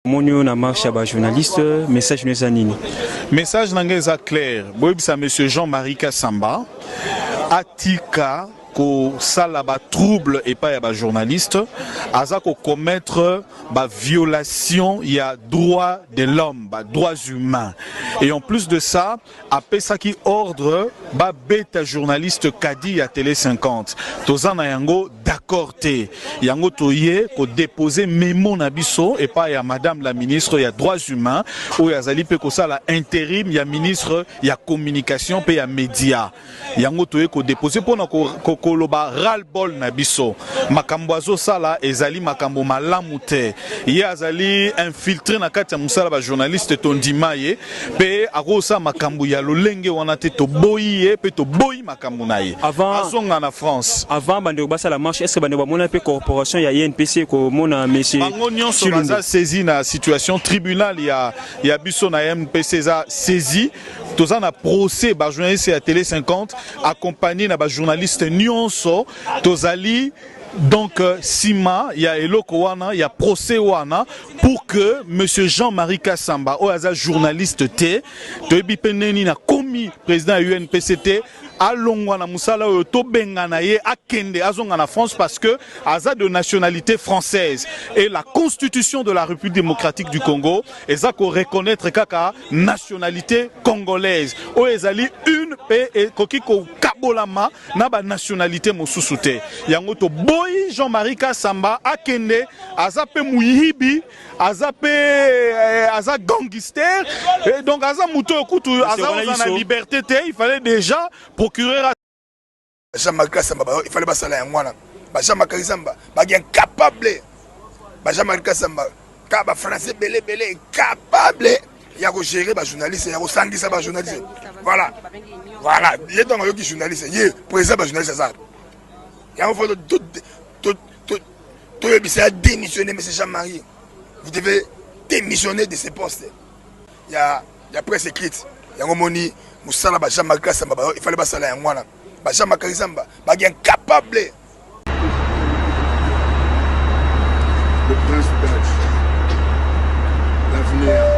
omoni oyo na marche ya bajournaliste message no eza nini message na ngai eza claire boyebisa monsieur jean marie kasamba atika kosala batrouble epai ya bajournaliste aza kocommettre baviolation ya droit de l'homme badroits humains et en plus de ça apesaki ordre ba beta journaliste kadi ya tele 50 toza na yango d'accord te yango toye ko deposer memo na biso epa ya madame la ministre ya droits humains oyo azali pe kosala interim ya ministre ya communication pe ya media yango toye ko depose pona koloba ral bol na biso makambo azosala ezali makambo malamu te ye azali infiltre na kati ya mosala ba journaliste tondima ye pe akosala makambo ya lolenge wana te toboyi ye pe toboyi makambo na ye azonga na france avant bandeko basala marche est-ce que bandeko bamona pe corporation ya INPC komona monsieur bango nyonso baza saisi na situation tribunal ya ya biso na MPC eza saisi toza na procès ba journaliste ya tele 50 accompagné na ba journaliste nyonso tozali donc euh, sima ya eloko wana ya procès wana pour que monsieur Jean-Marie Kassamba oyo aza journaliste te toyebi pe ndeni na komi président ya UNPCT Alongwa na musala oyo to bengana ye akende azonga na France parce que aza de nationalite française et la constitution de la République démocratique du Congo eza ko reconnaître kaka nationalite congolaise oyo ezali une pe ekoki ko kabolama na ba nationalite mosusu te yango to boyi Jean-Marie Kassamba akende aza pe muyibi aza pe eh, aza gangister et donc aza moto oyo kutu aza oza na liberté te il fallait déjà procureur jean marc kasamba il fallait basala yango wana ba jean marc kasamba baki incapable ba jean marc kasamba ka ba français bele bele incapable ya kogere bajournaliste ya kosangisa bajournaliste voilà voilà ye ntango ayoki journaliste ye président bajournaliste aza yango fo toyebisa ya démissionner monsieur jean marie vous devez démissionner de ce poste ya, ya presse écrite yango moni mosala ba jean marie kasamba ba, ifale basala yango wana ba jean marie kasamba baki incapable le prince d'âge l'avenir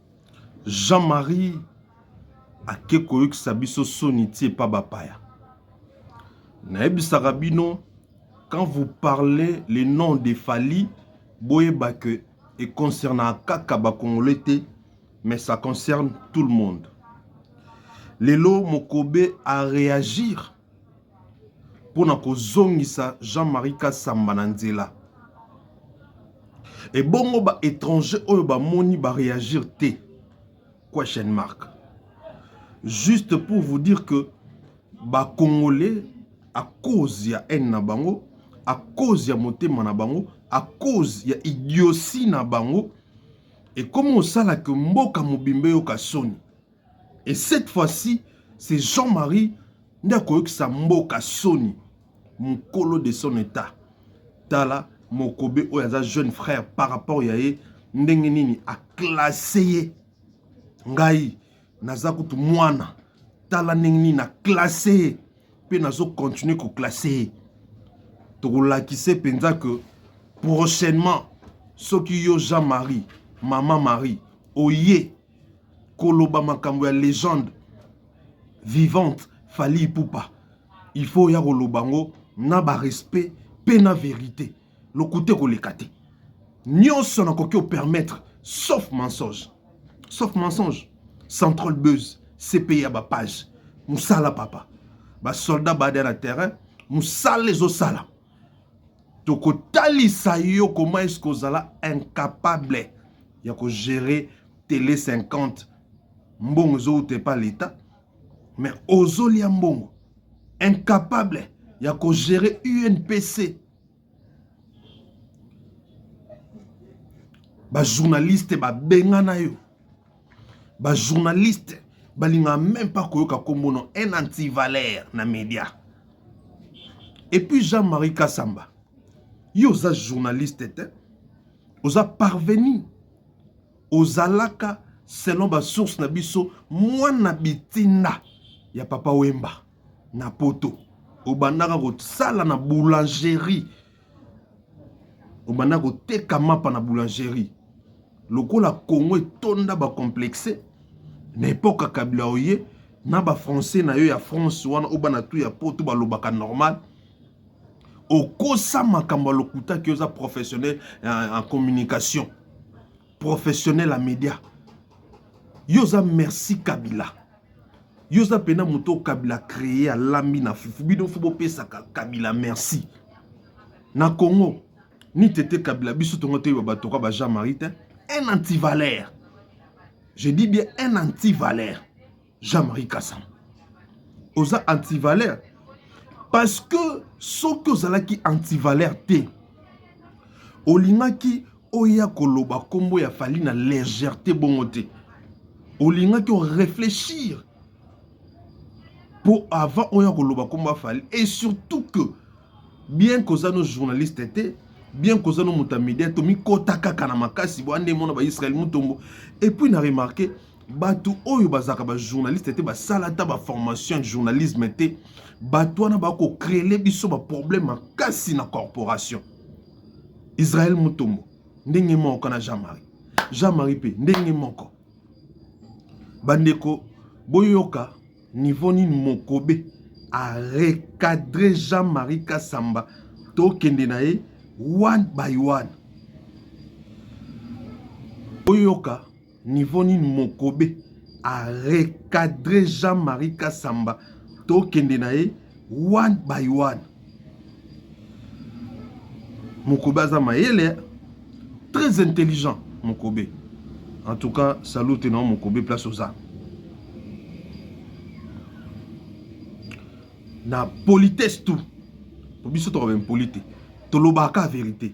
Jean Marie ake koyokisa biso soni ti epa bapaya. Nayebisaka bino quand vous parlez le nom de Fally boyeba que e concernaka kaka ba congolais te mais ça concerne tout le monde. Lelo Mokobe a reagir mpo na kozongisa Jean Marie Kasamba na nzela. Ebongo ba etranger oyo bamoni ba reagir te question mark juste pour vous dire que ba congolais à cause ya haine na bango à cause ya motema na bango à cause ya idiotie na bango ekomi osalaka mboka mobimba eyoka soni Et cette fois-ci, c'est Jean-Marie nde akoyokisa mboka soni mokolo de son état tala mokobe oyo aza jeune frère par rapport ya ye ndenge nini aklasse ye ngai naza kutu mwana tala ndenge nini naklasse ye mpe nazokontinue koklasse ye tokolakise mpenza ke prochainement soki yo jean marie mama marie oye koloba makambo ya legende vivante fali ipupa il faut oya koloba yango na barespect mpe na verite lokuta ekoleka te nyonso nakoki opermettre sauf mensonge sauf mensonge central buse cpi ya bapage mosala papa basoldat bada na terrain mosala ezosala tokotalisa yo comment est-ce que ozala incapable ya ko gérer tele 50 mbongo ezowuta epa leta mais ozolia mbongo incapable ya ko gérer UNPC ba journaliste babengana yo ba journaliste balingaka meme pas koyoka nkombo no un antivaleur na media epuis jean marie kasamba yo oza journaliste te oza parvenu ozalaka selon basource na biso mwana bitinda ya papa wemba na poto obandaka kosala na boulangerie obanda koteka mapa na boulangerie lokola congo etonda bacomplexe na epoka kabila oye na bafrançais na yo ya france wana oyo bana tu ya poto balobaka normal okosa makambo ya lokuta ki oza professionnel en communication professionnel ya media yo oza merci kabila yo oza mpena moto oyo kabila cree alambi na fufu bino fo bopesaka kabila merci na congo ni tete kabila biso tongo toyeba bato kwa ba jean marie te un antivaleur je dis bien un antivaleur Jean-Marie Kassam oza antivaleur parce que soki ozalaki antivaleur te olingaki oya koloba nkombo ya fali na légèreté bongo te olingaki orefléchir mpo avant oya koloba nkombo ya fali et surtout que bien koza no journaliste te bien koza no moto ya media tomikota kaka na makasi boya nde mona baisrael mutombo epuis na remarke bato oyo bazalaka bajournaliste te basala ata baformation ya journalisme te bato wana bakocrele biso baproblème makasi na corporation israel mutombo ndenge moko na jean marie jean marie mpe ndenge moko bandeko boyoka niveau nini mokobe arecadre jean marie kasamba tokende na ye one by one boyoka Niveau nini mokobe a recadrer Jean-Marie Kassamba tokende na ye one by one. Mokobe aza mayele très intelligent Mokobe. En tout cas, salute na Mokobe place oza. Na politesse tout. Pour biso to ba impolite. Tolobaka vérité.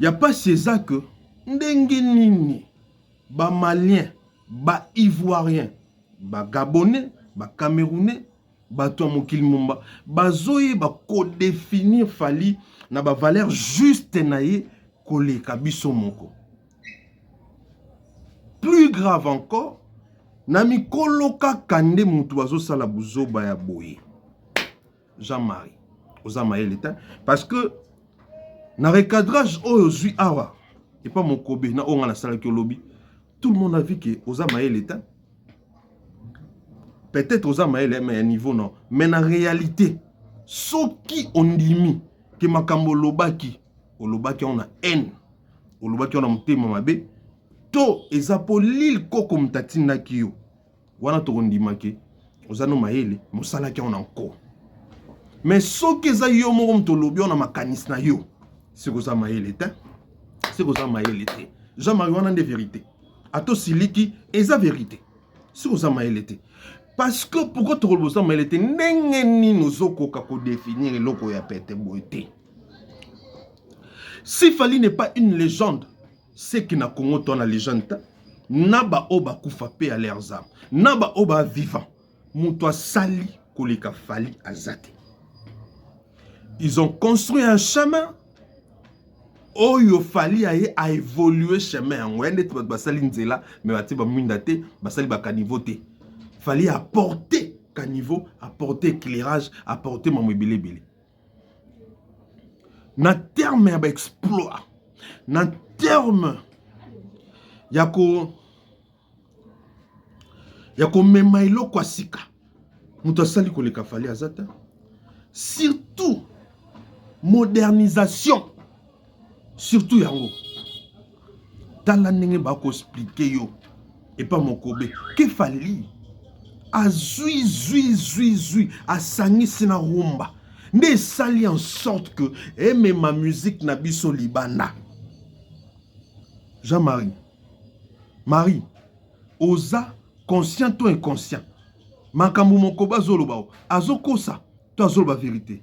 Ya pasi eza que ndenge nini ba maliens, ba ivoiriens, ba gabonais, ba camerounais, bato ya mokili momba bazoyeba ko definir Fally na ba valeurs juste na ye koleka biso moko. Plus grave encore, na mikolo kaka nde mutu azosala buzoba ya boye. Jean Marie oza mayele te parce que na recadrage oyo ozwi awa epa mokobe na oyo ngai nasalaki olobi tout le monde a vu que oza mayele te peut-être oza mayele mais ya niveau non mais na réalité soki ondimi ke makambo olobaki olobaki yango na haine olobaki yango na motema mabe to eza mpo lil koko moto atindaki yo wana tokondima ke oza no mayele mosalaki yango na nko me soki eza yo moko moto olobi yango na makanisi na yo siko oza mayele te siko oza mayele te jean marie wana nde verité ata osiliki eza verité siko oza mayele te parce que pourquoi tokoloba oza mayele te ndenge nini ozokoka kodefinir eloko ya pete boye te si fali n'est pas une légende Seke na Congo to na legende ta na ba oyo bakufa pe à leurs âmes na ba oyo ba vivant moto asali koleka Fally aza te ils ont construit un chemin oyo Fally aye a évoluer chemin yango ya ndeti bato basali nzela me batie bamwinda te basali bakaniveau te Fally apporte caniveau apporte éclairage apporte mambo ebele ebele na terme ya ba exploit na terme ya ko ya komema eloko ya sika moto asali koleka fali aza te surtout modernisation surtout yango tala ndenge bakoexplike yo epa mokobe ke fali azwi zwi zwi zwi asangisi na rumba nde esali en sorte que emema musique na biso libanda jean marie marie oza conscient to inconscient makambo mokoba azoloba azokosa to azoloba verite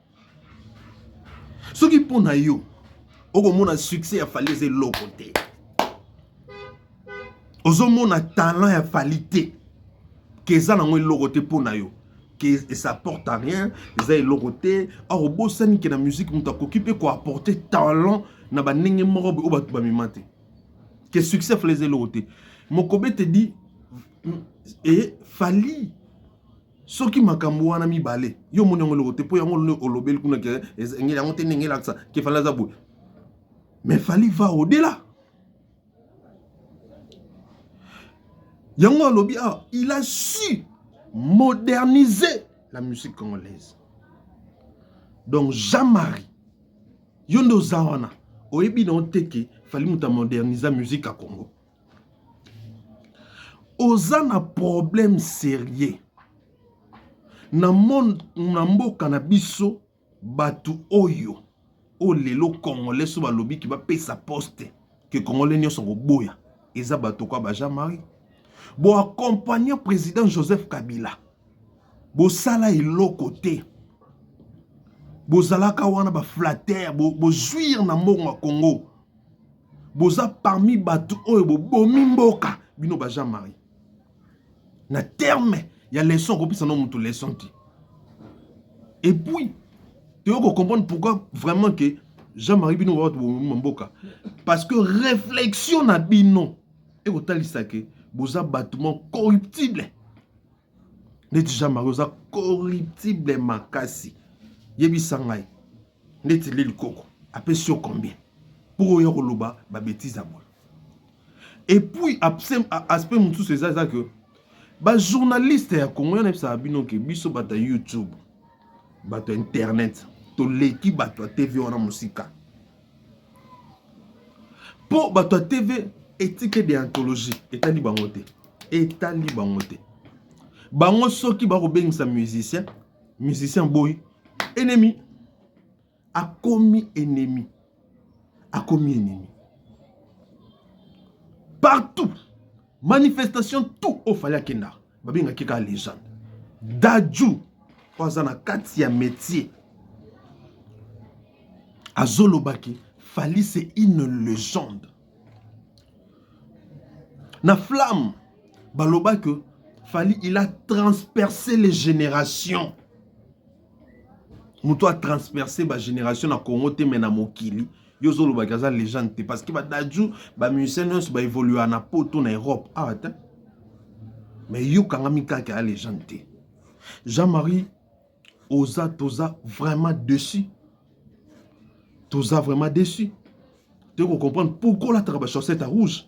soki mpo na yo okomona succès ya fali eza eloko te ozomona talent ya fali te ke eza nango eloko te mpo na yo ke esa porte à rien eza eloko te or obosani ke na musique moto akoki mpe koapporte talent na bandenge moko oyo bato bamema te ke succès fali eza eloko te mokobe te di e fali Soki makambo wana mibale yo omoni yango eloko te mpo yango nde olobeli kuna ke engeli yango te ndenge elakisa ke fali aza boye mais fali va odela yango alobi awa ah, il a su moderniser la musique congolaise donc jean marie yo nde oza wana oyebi na oteke fali moto amodernisa musique ya congo Oza na problème serieux na monde na mboka na biso batu oyo oyo lelo congolais soki balobi ke bapesa poste ke congolais nionso akoboya eza batu lokola ba Jean Marie bo accompagna president Joseph Kabila bosala eloko te bozalaka wana ba flatteur bozuir na mbongo ya Congo boza parmi bato oyo bobomi mboka bino ba jean marie na terme ya leson kopesa no moto leson te epuis toyo kocomprendre pourquoi vraiment ke jean marie bino bato bobomi ma mboka parce que réflexion na bino ekotalisa ke boza bato mo corruptible ndeti jean marie oza corruptible makasi yebisa ngai ndeti lili koko apesi yo combien mpo oya koloba babetize ya boye epuis aspect mosusu eza eza ke bajournaliste ya congo yana ebisaka bino ke biso bato ya youtube bato ya internet toleki bato ya tv wana mosika mpo bato ya tv etike de anthologie etali bango te etali bango te bango soki bakobengisa musicien musicien boyi ennemi akomi ennemi akomi ennemi partout manifestation tout ofali akenda babengaki kaka legende daju oyo aza na kati ya métier azolobaki fali c'est une legende na flamme baloba que fali il a transpercé les générations moto a transperce ba génération na congo te me na mokili yo ozolobaki aza legende te parce que badaju bamusicien nyonso baévolua na poto na europe awa ah, te me yo kangami kaka ya legende te jean marie oza toza vraiment dessus toza vraiment dessus toyei kocomprendre pourkoi olataka bachaussette ya rouge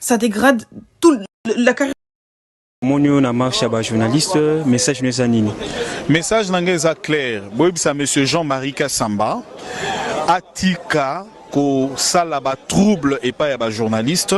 ça dégrade tout la carrière omoni oyo na marche ya bajournaliste message no eza nini message na ngai eza claire boyebisa monsieur jean marie kasamba atika kosala batrouble epai ya bajournaliste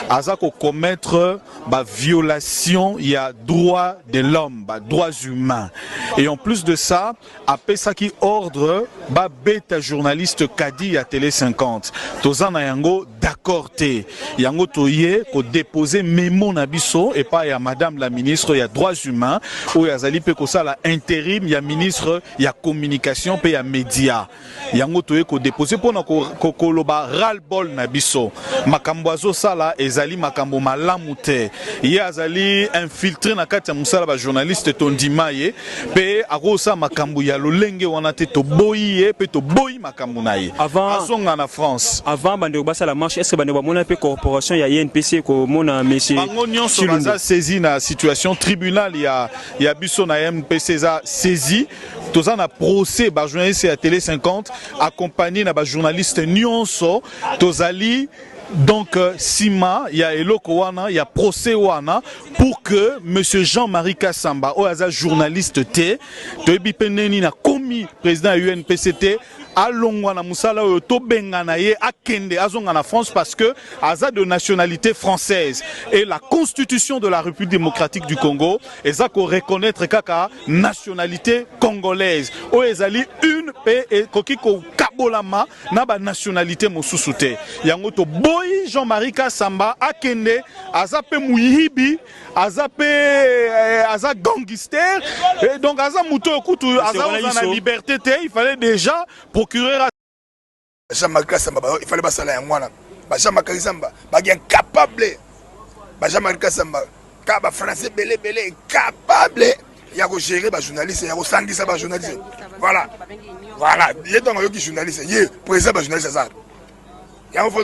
aza kocommettre baviolation ya droit de l'homme badroits humains et en plus de ça apesaki ordre ba beta journaliste kadi ya tele 50 toza na yango d'accord te yango toye ko deposer memo na biso epa ya madame la ministre ya droits humains oyo azali pe kosala interim ya ministre ya communication pe ya media yango toye ko depose pona koloba ral ball na biso makambo azosala ezali makambo malamu te ye azali infiltre na kati ya mosala ba journaliste tondima ye pe akosala makambo ya lolenge wana te toboyi ye pe toboyi makambo na ye azonga na france avant bandeko basala marche est-ce que bandeko bamona pe corporation ya INPC komona monsieur bango nyonso baza saisi na situation tribunal ya ya biso na MPC eza saisi toza na procès ba journaliste ya tele 50 accompagné na ba journaliste nyonso tozali donc euh, sima ya eloko wana ya procès wana pour que monsieur Jean-Marie Kassamba oyo aza journaliste te toyebi pe ndeni na komi président ya UNPCT Alongwa na musala oyo to bengana ye akende azonga na France parce que aza de nationalite française et la constitution de la République démocratique du Congo eza ko reconnaitre kaka nationalite congolaise oyo ezali une pe ekoki ko kabolama na ba nationalite mosusu te yango to boyi Jean-Marie Kassamba akende aza pe muyibi aza pe eh, aza gangister et donc aza moto oyo kutu aza oza na liberté te il fallait déjà procureur jean marc kasamba il fallait basala yango wana ba jean marc kasamba baki incapable ba jean marc kasamba ka ba français bele bele incapable ya kogere bajournaliste ya kosangisa bajournaliste voilà voilà ye ntango ayoki journaliste ye président bajournaliste aza yango fo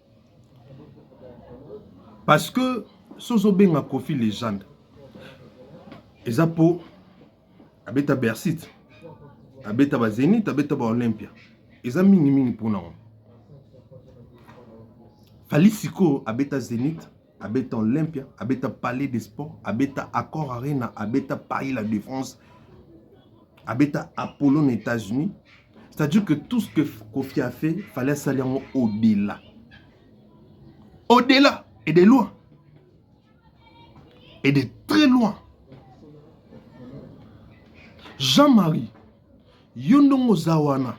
Parce que si ozo benga Koffi legende eza po abeta Bercy, abeta ba Zenith, abeta ba Olympia. Eza mingi mingi pona ngo. Fally sikoyo abeta Zenith, abeta olympia abeta palais de sport abeta accord arena abeta paris la défense abeta apollo na états-unis c'est à dire que tout ce que kofi a fait fallait asali yango au delà au delà et de loin et de très loin jean-marie Yo ndongo oza wana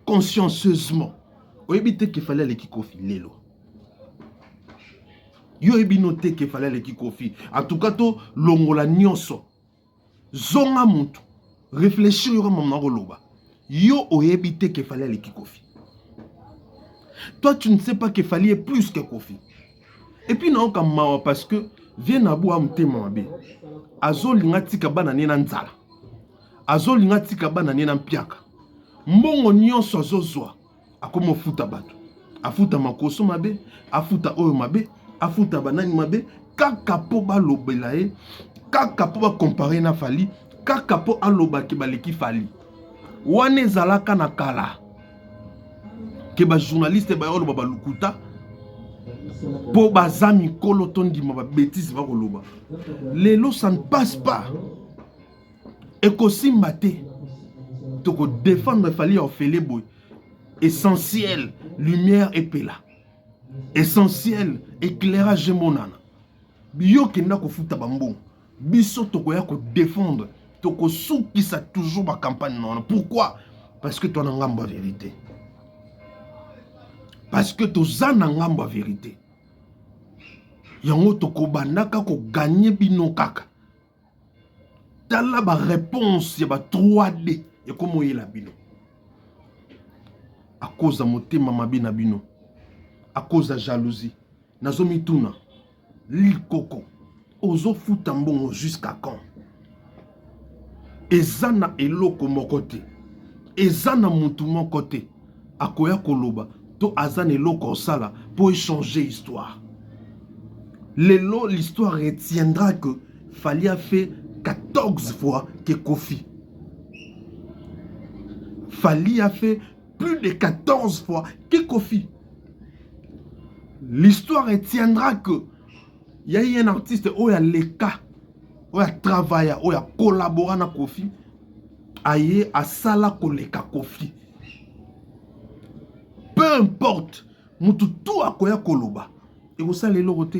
consciencieusement oyebi te kefale aleki kofi lelo yo oyebi no te kefale aleki kofi en tout cas to longola nyonso zonga mutu réfléchir yoka mamu na koloba yo oyebi te kefale aleki kofi toi tu ne sais pas kefali est plus que kofi et puis naoka mawa parce que vie na boa motema mabe azolinga tika bana ne na nzala azolinga atika bana nie na mpiaka mbongo nyonso azozwa akomi ofuta bato afuta makoso mabe afuta oyo mabe afuta banani mabe kaka mpo balobela ye kaka mpo bakompare na fali kaka mpo aloba ke baleki fali wana ezalaka na kala ke bajournaliste baya oloba balukuta mpo baza mikolo tondima babetise bakoloba lelo ça ne passe pas ekosimba te toko défendre fali ya ofele boye essentiel lumière epela essentiel éclairage emonana yo kenda kofuta bambongo biso tokoya kodefendre tokosukisa toujours bacampagne na wana pourquoi parce que toa na ngambo ya verité parce que toza na ngambo ya verité yango tokobandaka koganye bino kaka tala ba réponse ya ba 3D ekomoyela bino akoza motema mabe na bino akoza jalousie nazomituna likoko ozofuta mbongo jusqu'à quand eza na eloko moko te eza na mutu moko te akoya koloba to aza na eloko osala mpo echanger histoire lelo l'histoire retiendra que fali a fait 14 fois que kofi fali a fait plus de 14 fois que kofi l'histoire retiendra que ya ye un artiste oyo aleka oyo atravaya oyo akolabora na kofi aye asala koleka kofi peu importe mutu tu akoya koloba ekosala eloko te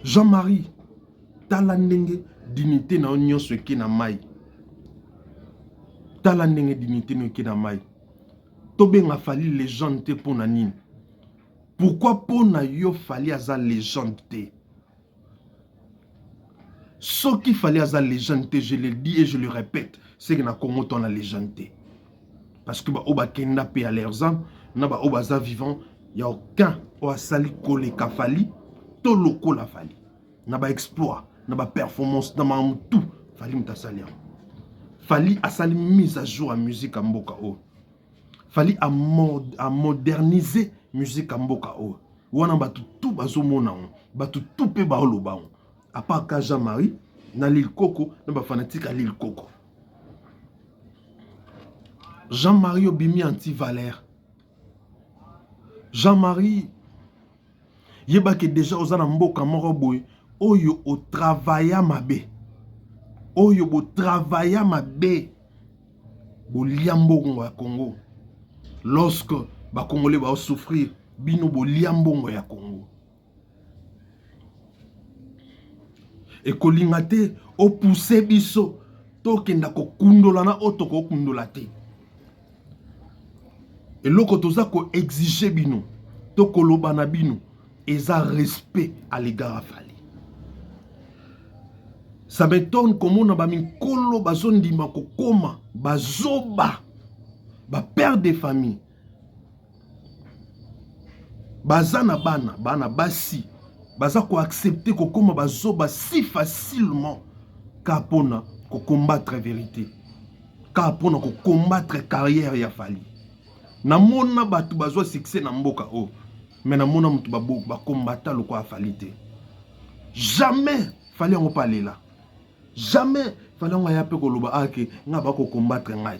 jean-marie tala ndenge dignité na yo nyonso eke na mai tala ndenge dignité na yo eke na mai tobenga fali legende te mpo na nini pourkui mpo na yo fali aza legende te Soki fally aza legende te je le dis et je le repète ce que na congo to na legende te parce que ba oyo bakenda pe ya leurs ames na ba oyo baza vivant ya aucun oyo asali koleka fally to lokola fally na ba exploit na ba performance na makambo tout fally moto asali yango fally asali mise à jour ya musique ya mboka oyo fali a moderniser musique ya mboka oyo wana bato tu bazomona yango bato tu mpe baoloba yango apart ka jean marie na lil koko na bafanatike ya lil koko jean marie obimi antivalere jean marie Yeba ke deja oza na mboka moko boye oyo o travailla mabe, oyo bo travailla mabe, bolia mbongo ya Congo lorsque ba congolais bao souffrir bino bolia mbongo ya Congo. Ekolinga te o pousser biso tokenda kokundola na oyo tokokundola te. eloko toza ko exige bino to koloba na bino eza respect à l'égard ya Fally ça m'étonne komona ba mikolo bazondima kokoma bazoba ba père de famille baza na bana bana basi baza ko accepter kokoma bazoba si facilement ka mpona ko combattre verite ka mpona ko combattre carrière ya fali na mona bato bazwa succès na mboka oyo me na mona moto bakombata lokwa ya fali te jamais fali yango mpe alela jamais fali yango aya mpe koloba ake ah, ngai bakokombatre ngai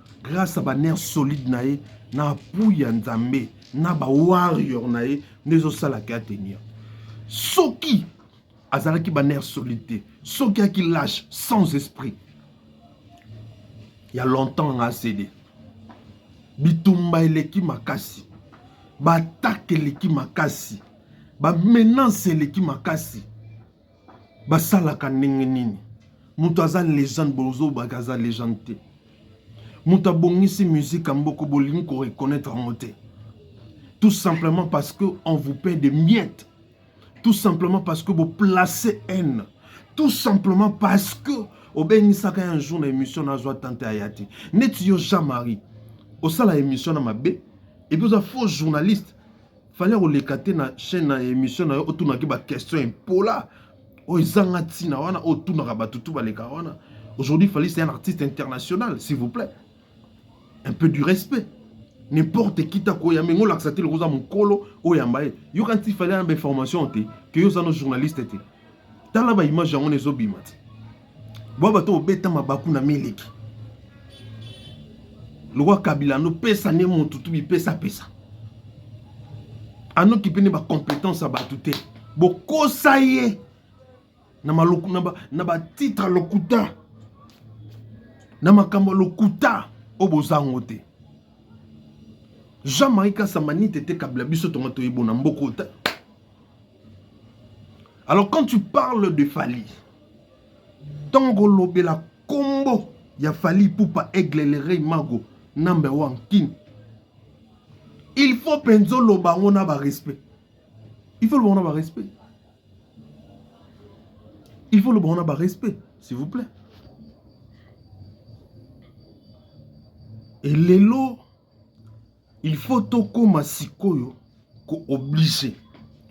grâce à ba nerfs solides na ye na appui ya nzambe na ba warrior na ye nde ezosala ke atenir soki azalaki ba nerfs solides te soki aki lâche sans esprit ya longtemps nga asede bitumba eleki makasi baatake eleki makasi bamenance eleki makasi basalaka ndenge nini moto aza legende bozobaka aza legende te moto abongisi musique ya mboko bolingi ko reconnaître yango te tout simplement parce que on vous paie de miette tout simplement parce que boplace haine tout simplement parce que obengisaka un jour na émission nazwa tante aya te neti yo jean marie osala émission na mabe epuis oza faux journaliste fallait oleka te na chaîne na émission na yo otunaki ba question impola oyo ezanga ntina wana oyo otunaka bato tu baleka wana aujourd'hui fallait c'est un artiste international s'il vous plaît un peu du respect n'importe qui ta koya mengo lakisa te lokoza mokolo oyamba ye yoka nti fallait ayamba information te ke yo oza no journaliste te tala ba image yango nezo bima ti bwa bato obeta mabaku na miliki lokwa kabila no pesa ne mutu tu bipesa pesa anokipe ne bacompetence ya bato te bokosa ye na, maloku, na, ba, na batitre ya lokuta na makambo ya lokuta oyo boza yango te jean marie kasamanite te kabila biso tonga toyebona mboko Alors quand tu parles de Fally, tongo lobela kombo ya Fally Poupa Aigle le Rey Mago number one king. Il faut penzo loba yango na ba respect. Il faut loba yango na ba respect. Il faut loba yango na ba respect, s'il vous plaît. Et lelo Il faut tokoma sikoyo ko oblige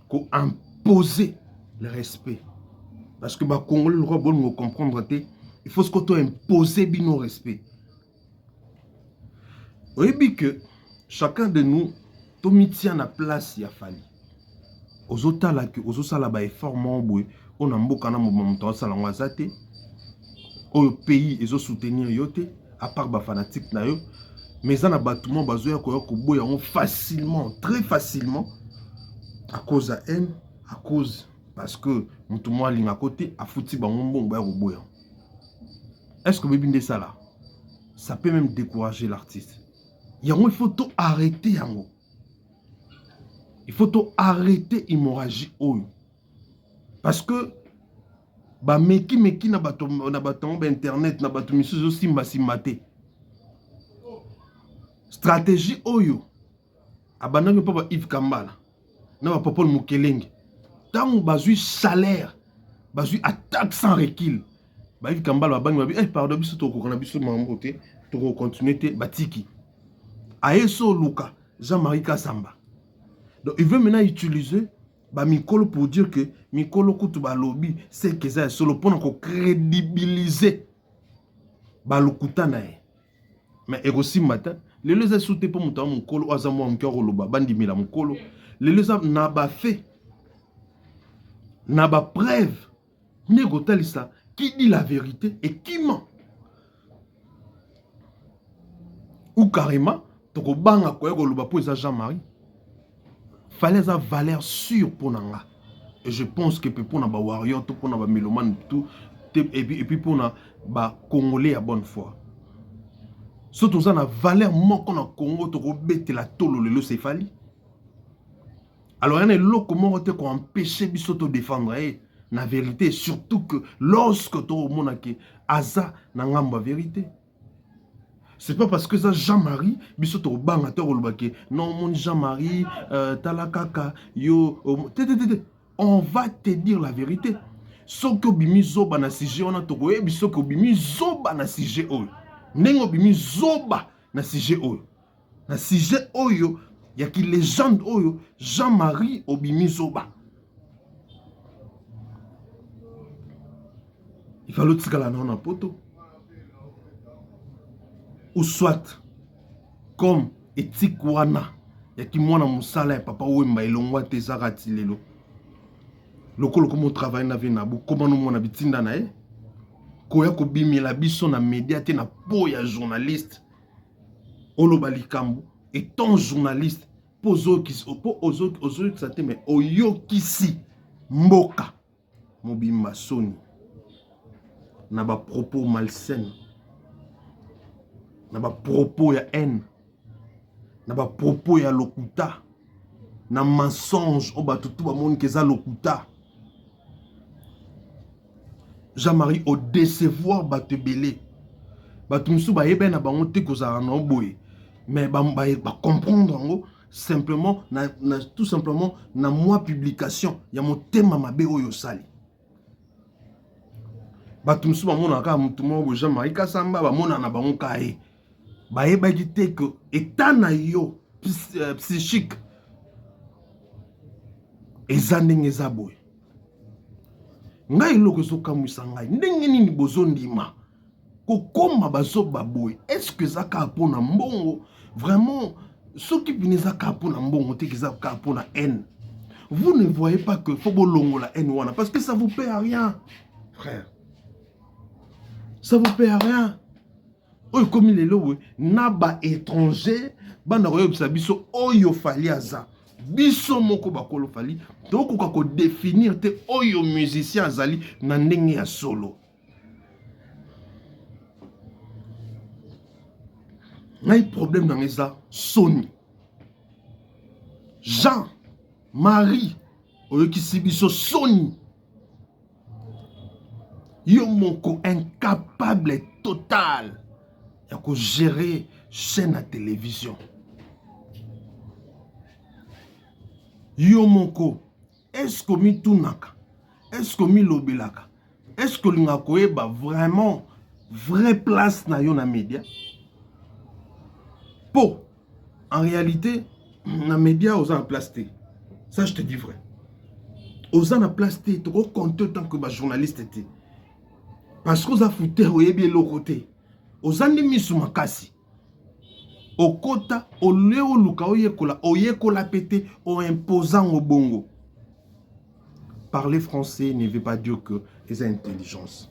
ko imposer le respect parce que ba congolais lokola bolingo comprendre te il faut sikoyo to imposer bino respect oyebi que chacun de nous tomitia na place ya fali ozotala ke ozosala ba effort moko boye oyo na mboka na mobima moto azosala yango aza te oyo pays ezo soutenir yo te apart ba fanatique na yo mais eza na bato moko bazoya koya koboya yango facilement très facilement à cause ya haine à cause parce que moto moko alingako te afuti bango mbongo baya koboya est ce que oyebi nde esala ça peut même décourager l'artiste yango il faut to arrêter yango il faut to arrete hemorragie oyo parce que bameki meki na bato na bato yango bainternet na bato misusu ezosimbasimba te stratégie oyo abandaki mpo ba ive kambala na bapopole mokelenge ntango bazwi salaire bazwi attaque sans recule Bayivi Kambala babangi babi eh pardon biso tokoka na biso mambo te toko continuer te batiki aye so luka Jean-Marie Kasamba donc il veut maintenant utiliser ba mikolo pour dire que mikolo kutu balobi seke eza ya solo mpona ko crédibiliser balokuta na ye mais ekosimba te lelo eza su te mpo moto ya mokolo oyo aza mwa moke akoloba bandimela mokolo lelo eza na bafe na bapreuve nde kotalisa qui dit la verite et qui ment ou carrément tokobanga koya koloba mpo eza jean marie fale aza valeur sûre mpo na nga et je pense que mpe mpo na bawarrior to mpo na bamelomane tout epuis mpo na bacongolais ya bonne foi so toza na valeur moko na congo tokobetela tolo lelo sefali Alors il y a eloko moko te ko empêcher biso to défendre ye na vérité surtout que lorsque to mona ke aza na ngambo ya vérité. C'est pas parce que ça Jean-Marie biso to banga to koloba ke non mon Jean-Marie euh, tala kaka yo euh, te te te on va te dire la vérité. soki obimi zoba na sujet wana tokoyebi soki obimi zoba na sujet oyo ndenge obimi zoba na sujet oyo na sujet oyo ya ki legende oyo Jean Marie obimi zoba il fallait otikala nao na poto ou soit comme etike wana ya kimwana mosala ya papa wemba elongwa te ezaka ti lelo lokola okoma otravaille na vie na bokoma nomona bitinda na ye koya kobimela biso na media te na po ya journaliste oloba likambo etant journaliste mpo ozoyokisa te me oyokisi mboka mobimba soni na ba propos malsaine na ba propos ya haine na ba propos ya lokuta na mensonge oyo bato tout bamonike eza lokuta Jean-Marie o decevoir bato ebele bato mosusu bayebani na bango te kozala na oboye mais bacomprendre ba, ba yango simplement na, na, tout simplement na mwa publication ya motema mabe oyo osali bato mosusu bamonaka kaka motu moko boye jean marie kasamba bamonana bango kaye bayebaki te que etat na yo euh, psychique eza ndenge eza boye ngai eloko ezokamwisa ngai ndenge nini bozondima kokoma bazoba boye estce eza kaka mpo na mbongo vraiment soki bino eza kaka mpo na mbongo te eza kaka mpo na haine vous ne voyez pas que faut bolongola haine wana parce que ça vous paie à rien frère ça vous paie à rien oyo ekomi lelo boye na ba étranger banda koyebisa biso oyo fali aza biso moko bakolo fali tokoka kodefinir te oyo musicien azali na ndenge ya solo ngai problème nanga eza soni jean marie oyokisi biso soni yo moko incapable total ya ko gerer chaine ya television yo moko est ce que omitunaka est ce que omilobelaka est ce que olingaka koyeba vraiment vrai place na yo na media po en réalité na media oza na place te ça je te dis vrai oza na place te tokocompte tant que bajournaliste te parce que oza fouter oyebi eloko te oza nde miso makasi okota olie oluka oyekola oyekola mpe te oimposa ngo bongo parler français ne veut pas dire que eza intelligence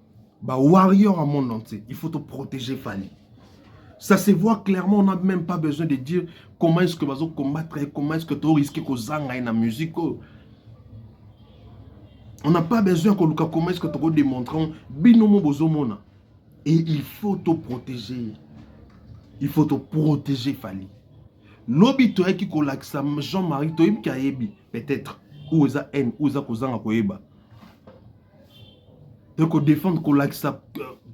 Ba warrior à monde entier, il faut te protéger Fally. Ça se voit clairement, on n'a même pas besoin de dire comment est-ce que bazo combattre et comment est-ce que tu risques ko zanga na musique. Oh. On n'a pas besoin que Luka comment est-ce que tu démontrer bino mo bozo mona. Et il faut te protéger. Il faut te protéger Fally. Lobi to yaki ko lakisa Jean-Marie to yebi peut-être ou eza haine ou eza ko zanga ko yeba. de ko défendre kolakisa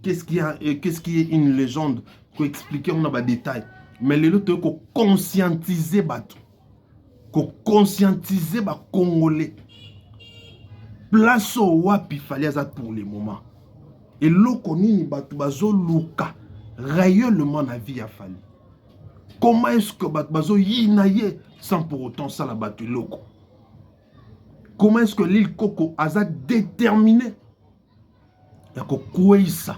qu'est-ce qui a qu'est-ce qui est une légende ko expliquer on a ba détails mais lelo to ko conscientiser bato ko conscientiser ba congolais place oyo wapi fali aza pour le moment eloko nini bato bazoluka réellement na vie ya fali comment est ce que bato bazoyina ye sans pour autant sala bato eloko comment est-ce que Lil Coco aza déterminé ya kokweyisa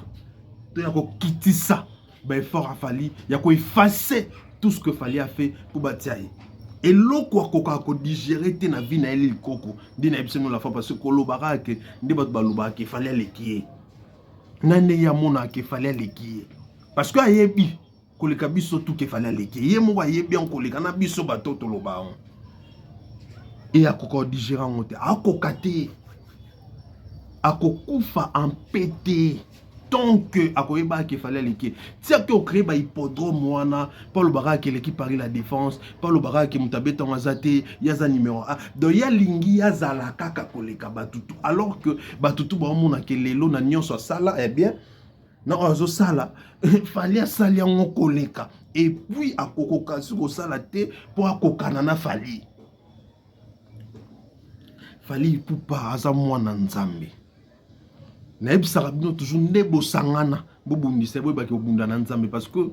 to ya kokitisa baeffort ya Fally ya koefface tout ce que Fally a fait mpo batia ye eloko akokaka kodigere te na vie na ye Lil Coco nde nayebisi no la fois parce que kolobaka ke nde bato balobaka ke Fally aleki ye na ndenge amonaka ke Fally aleki ye parce que ayebi koleka biso tuke fali aleki ye moko ayebi yango koleka na biso bato toloba yango e akoka odigere yango te akoka te akokufa ampe te tant que akoyeba ke fali aleki ti ake ocree bahippodrome wana mpo alobaka ake eleki paris la défense mpo alobaka ake moto abeta yango aza te ye aza numero a donc ye alingi ye azala kaka koleka batutu alors que batutu baomonake lelo na nyonso asala eh bien na oyo azosala fali asali yango koleka epuis akokoka si kosala te mpo akokana na fali fali ipupa aza mwana nzambe nayebisaka bino toujours nde bosangana bobundisa boyebaki kobunda na nzambe parce que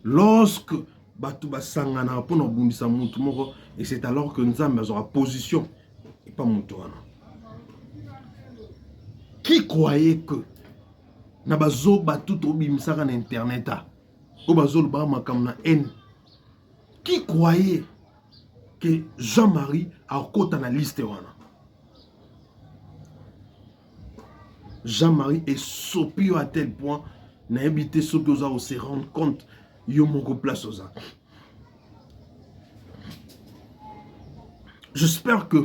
lorsque bato basanganaka mpo na kobundisa motu moko et c'est alors que nzambe azwaka position epa moto wana qui croyait que na bazoba tout obimisaka na internet a oyo bazolobaka makambo na haine qui croyait que Jean-Marie akota na liste wana Jean-Marie esopi yo à tel point nayebi te soki oza ose rendre compte yo moko place oza j'espère que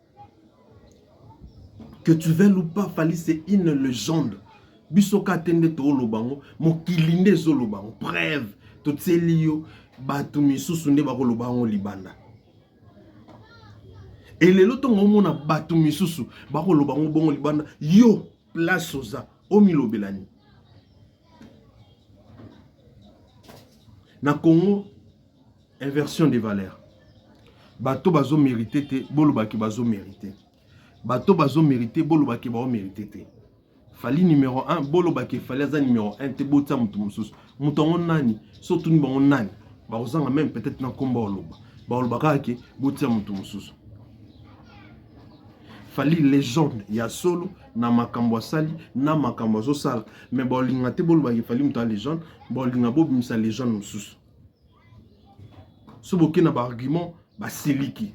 que tu veuilles ou pas Fally c'est une légende biso ka te nde tooloba yango mokili nde ezoloba yango preuve totieli yo bato misusu nde bakoloba yango libanda e lelo ntongo omona bato misusu bakoloba yango bongo libanda yo place oza omilobelani na congo Inversion de valeur. Bato bazo merite te, boloba ke bazo merite. Bato bazo merite, boloba ke bao merite te. Fali numéro 1, boloba ke Fali aza numéro 1 te, botia moto mosusu. Moto yango nani? So tuni bango nani? Bakozanga meme peut-être na komba oloba. Baoloba kaka ke botia moto mosusu. fali legende ya solo na makambo asali na makambo azosala me bolinga te bolobaki fali moto ya legende bolinga bobimisa legende mosusu so boke na baargument basiliki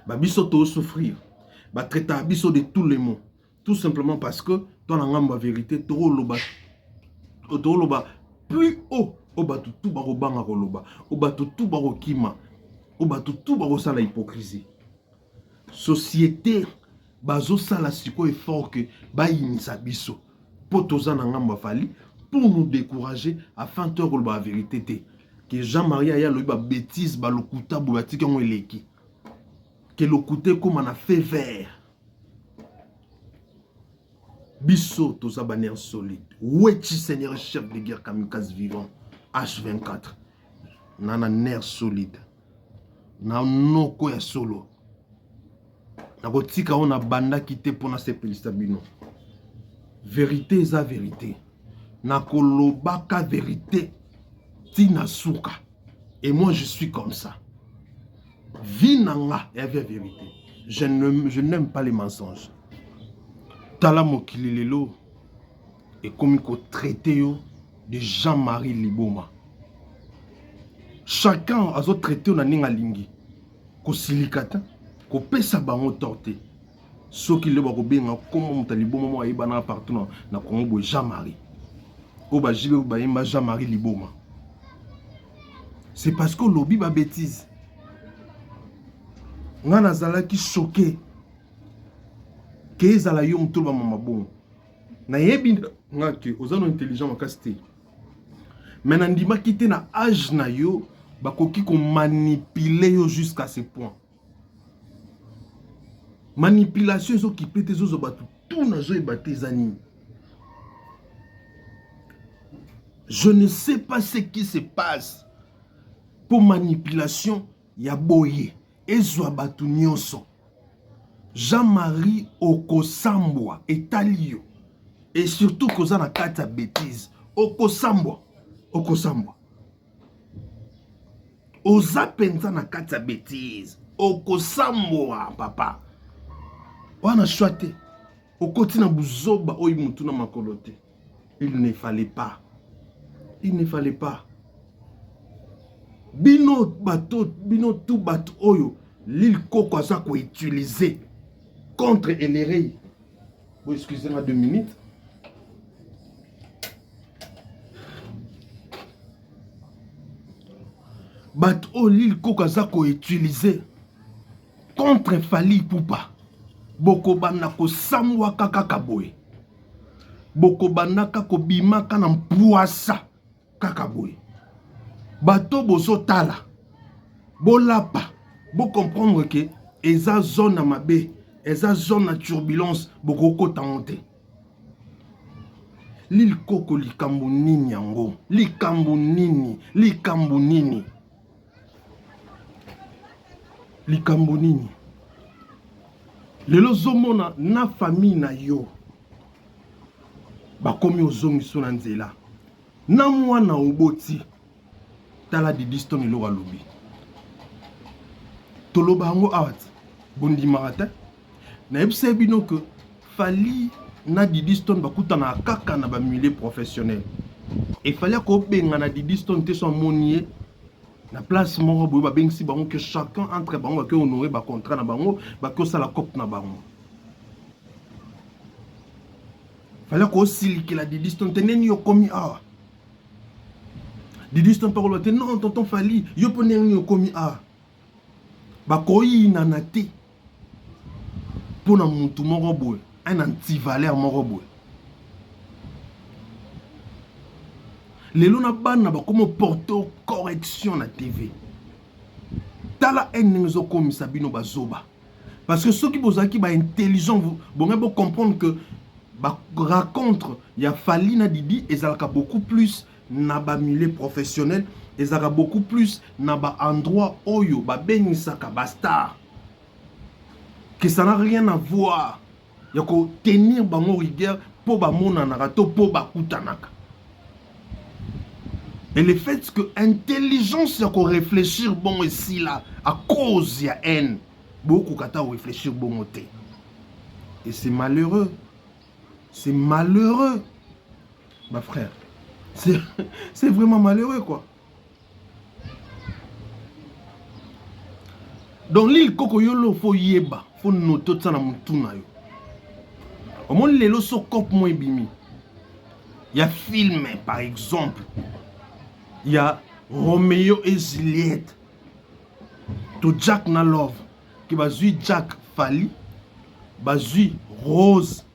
ba biso tosouffrir batraitaka biso de tout le mot tout simplement parce que to na ngambo ya verité tokoloba tokoloba plus haut o bato tu bakobanga koloba o bato tu bakokima o bato tu bakosala hypocrisie société bazosala sikoyo effort que bayinisa biso mpo toza na ngambo ya fali pour nous décourager afin toya koloba ya verité te ke jean marie aya alobi babétise balokuta boye batiki yango eleki ke lokuta ekóma na fait vert biso toza baner solide wechi seigneur chef de guerre kamikaze vivant h24 nana ner solide na noko ya solo nakotika oyo nabandaki te mpo nasepelisa bino verite eza verite nakolobaka verite ntina suka et moi je suis comme ça vie na nga ya via verite je n'aime pas les mensonges tala mokili lelo ekomi ko traiter yo de Jean-Marie Liboma chacun azo traiter yo na ndenge alingi kosilika te kopesa bango tort te soki lelo bakobenga nkombo moto ya liboma moko ayebanaka partout na, na congo boye jean marie oyo bajibe bayemba jean marie liboma c'est parce que olobi babétise ngai nazalaki choke ke ezala yo moto olobama mabongo nayebi nga ke oza no intelligent makasi te me nandimaki te na age na yo bakoki komanipule yo jusqu'à ce point manipulation ezokipe te ezozwa bato tout nazoyeba te eza nini je ne sais pas ce qui se passe mpo manipulation ya boye ezwa bato nyonso. Jean Marie okosambwa etali yo et surtout koza na kati ya betise okosambwa okosambwa oza mpenza na kati ya betise okosambwa papa wana shwa te okoti na buzoba oyo mutu na makolo te il ne fallait pas il ne fallait pas bino bato bino tu bato oyo lil koko aza koutilize contre elerei bo excuse nga deux minutes bato oyo lil koko aza koutilize contre Fally Ipupa bokobanda kosambwaka kaka boye bokobandaka kobimaka na mpwasa kaka boye bato bozotala bolapa bocomprendre ke eza zone ya mabe eza zone ya turbulence bokokota yango te lilkoko likambo nini yango likambo nini likambo nini likambo nini lelo ozomona na famille na yo bakomi ozongiso na nzela na mwana oboti tala didistone eloko alobi toloba yango awa te bondimaka te nayebisaki bino que fali na didi stone bakutanaka kaka na bamilieu professionnel efali akobengana didi stone te so amoni ye na place moko boye babengisi bango que chacun entre bango bake honore bacontrat na bango bake osala cope na bango fali akosilikela didi stone te ndeni okomi awa didi stone mpe akoloba te non tonton fali yo mpo ndenge nini okomi awa bakoyinana te mpo na mutu moko boye un antivaleur moko boye lelo na bana bakomi porto correction na tv tala ene ndenge ezokomisa bino bazoba parce que soki bozalaki ba intelligent bongai bocomprendre que baracontre ya fali na didi ezalaka beaucoup plus na ba milieu professionnel ezalaka beaucoup plus na ba endroit oyo babengisaka ba star que ça n'a rien à voir ya kotenir bango rigueur mpo bamonanaka to mpo bakutanaka et le fait que intelligence ya koreflechir bongo esila à cause ya haine bokoka ata koreflechir bongo te et c'est malheureux c'est malheureux ba frère c'est c'est vraiment malheureux quoi donc lil koko yo lo fo yeba fo note otsa na mutu na yo omoni lelo so cop mo ebimi ya film par exemple ya romeo et juliette to jack na love ke bazwi jack fali bazwi rose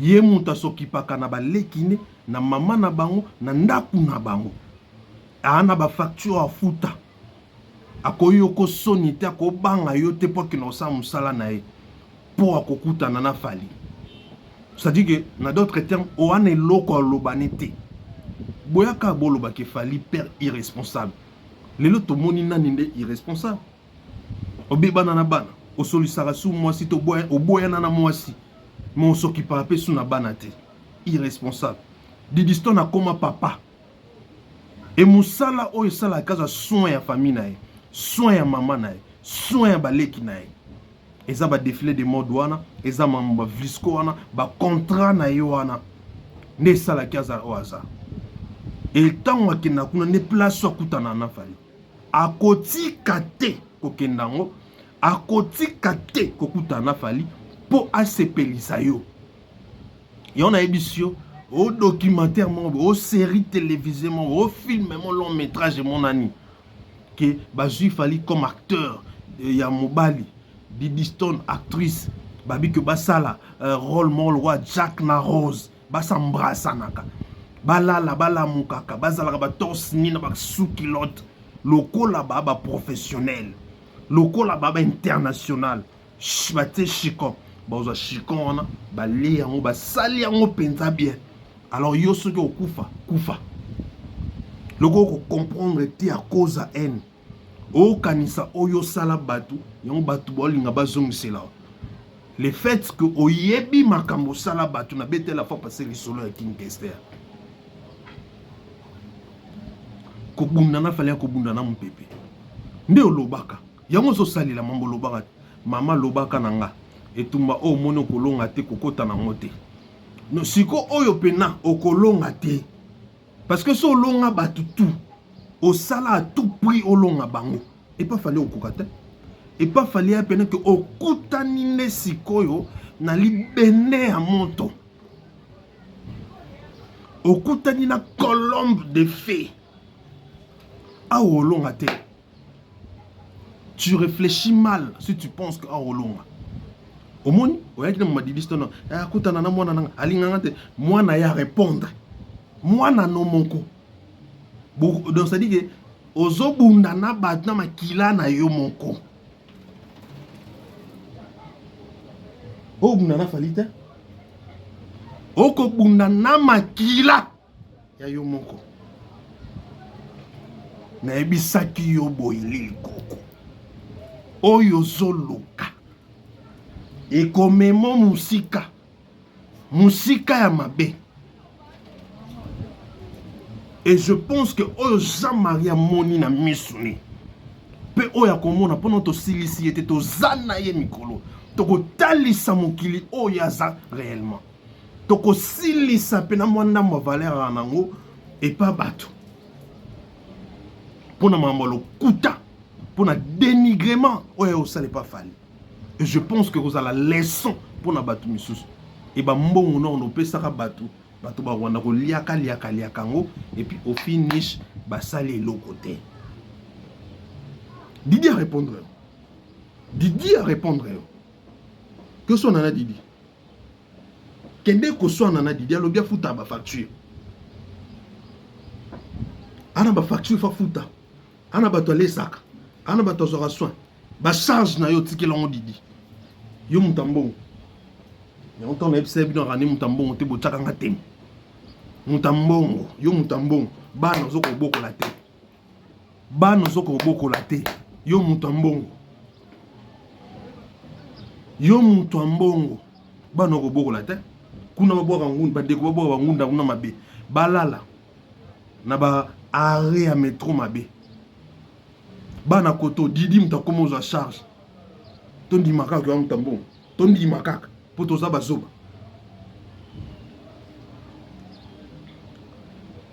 Ye mutu asokipaka na ba leki ne, na maman na bango, na ndaku na bango. Aa na ba facture afuta. Ako yoko soni te, ako banga yo te po akende kosala musala na ye. Po ako kutana na Fally. C'est à dire que na d'autres termes oa na eloko ya koloba ne te. Boya kaka boloba ke Fally père irresponsable. Lelo tomoni nani nde irresponsable. obebana na bana osolisaka su mwasi to oboyana na mwasi mais osokipaka mpe su na bana te irresponsable didiston akoma papa e mosala oyo esalaka aza soin ya famille na ye soin ya mama na ye soin ya baleki na ye eza badefile de mode wana eza mambo bavlisco wana bacontrat na ye wana nde esalaki aza oyo aza e ntango akenda kuna nde place akutana na fali akotika te kokenda yango akotika te kokutana na fali mpo asepelisa yo yango nayebisi yo o documentaire moko boye o série télévisée moko boye o film mo long métrage emonani ke bazwi fali comme acteur euh, ya mobali didistone actrice babi ke basala euh, role moko lokola jack na rose ba s'embrassanaka balala balamukaka bazalaka ba torse ni na ba sukilote lokola ba ba professionnel lokola ba ba international batie chicon bazwa chicon wana balie yango basali yango mpenza bien alors yo soki okufa kufa lokola kocomprendre te akoza haine okanisa oyo osala bato yango bato baolinga bazongisela le fait que oyebi makambo osala bato na betela fois passe lisolo ya king kester kobunda na fale ya kobunda na mopepe nde olobaka yango ozosalela mambo olobaka te mama lobaka na nga etumba oyo omoni okolonga te kokota nango te no siko oyo mpena okolonga te Parce que so olonga batu tout, osala à tout prix olonga bango. Et pas fallait okoka te. Et pas fallait à peine que okutani nde sikoyo na libende ya moto. Okutani na colombe de fée. Awa olonga te. tu reflechis mal si tu penses que awa olonga omoni oyaki na mamadidis tono eh, akutana na mwana nanga alinganga te mwana ya repondre mwana no moko donc c'est à dire que ozobunda na bato na makila na yo moko obunda na fali te okobunda na makila ya yo moko nayebisaki yo boye lili koko oyo ozoluka ekomemo mosika mosika ya mabe et je pense que oyo jean marie amoni na miso ne mpe oyo akomona mpona tosilisi ye te toza na ye mikolo tokotalisa mokili oyo aza réellement tokosilisa mpe na mwa ndambo ya valere ya nango epa bato mpo na makambo ya lokuta mpo na dénigrement oyo aye kosala epa fali et je pense que ekozala leçon mpo na bato misusu e bambongo nao nopesaka bato bato bakwanda koliaka liaka liaka yango epuis au finish basali eloko te didi arépondre yo didi arépondre yo que so nana didi kende koswana na didi alobi afutaka bafacture ana bafacture fafuta ana bato alesaka ana bato azwaka soin bacharge na yo otikela yango didi yo moto ya mbongo yango ntango nayebisa ye bino akani moto ya mbongo te botyaka nga temo moto ya mbongo yo moto ya mbongo bana ozokobokola te bana ozo kobokola te yo moto ya mbongo yo moto ya mbongo bana okobokola te kuna babwaka ngunda bandeko babwaka bangunda kuna mabe balala na ba arre ya metro mabe bana koto didi moto akoma ozwa charge tondima kaka oya moto ya mbongo tondima kaka mpo toza bazoba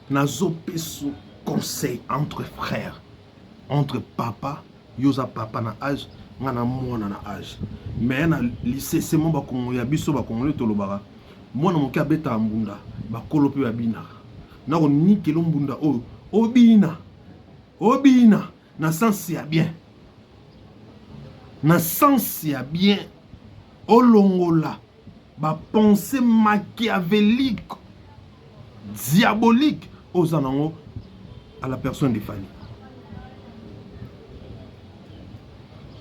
nazopeso conseil entre frère entre papa yo oza papa na age nga na mwana na age mais na lisesema bakongo ya biso bakongole tolobaka mwana moke abetaka mbunda bakolo mpe babinaka nakonikelo mbunda oyo obina obina na sens ya bien na sens ya bien olongola bapense machiavelique diabolique oza nango à la personne de fani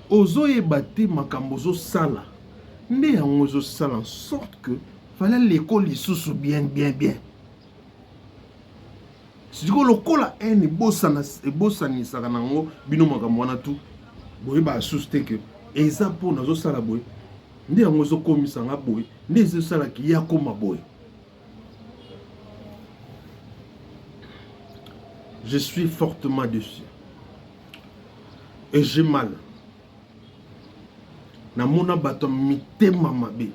ozoyeba te makambo ozosala nde yango ezosala en sorte que fale aleko lisusu bien bien bien Sikoyo lokola haine ebosana ebosanisaka na yango bino makambo wana tu boyebaka susu te ke eza mpo nazosala boye nde yango ezokomisa nga boye nde ezosalaki ye akoma boye je suis fortement déçu et j'ai mal namona bato ya mitema mabe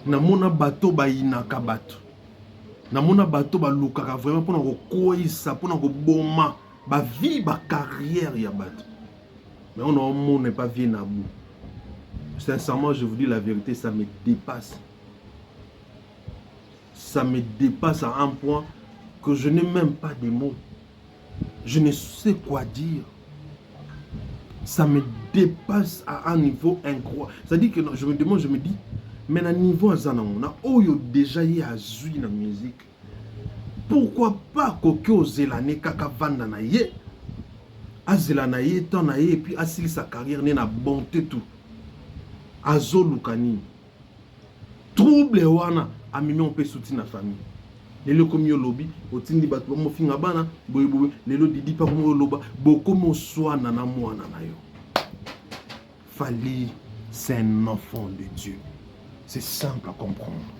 namona bato bayinaka bato namona bato balukaka vraiment mpona kokweisa mpona koboma bavie bacarrière ya bato mais on omona epa vie na bout sincèrement je vous dis la vérité ça me dépasse ça me dépasse à un point que je n'ai même pas de mots Je ne sais quoi dire. Ça me dépasse à un niveau incroyable. C'est-à-dire que je me demande, je me dis, mais na niveau aza nango na oyo déjà ye azwi na musique pourquoi pas akoki ozela ne kaka vanda na ye azela na ye temps na ye epuis asilisa carrière ne na bonte tout azoluka nini trouble wana amemi mpe suti na famille lelo ekomi yo lobi otindi bato bamofinga bana boyeboye lelo didi mpe akomi oloba bokomi oswana na mwana na yo fali c'est un enfant de dieu c'est simple à comprendre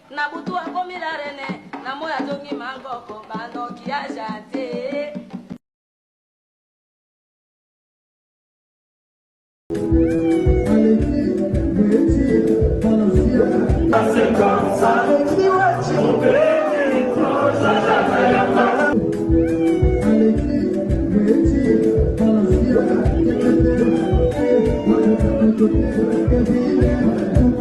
Na butu akomi la reine, na moyi azongi mangoko, ba ndoki ya gentil.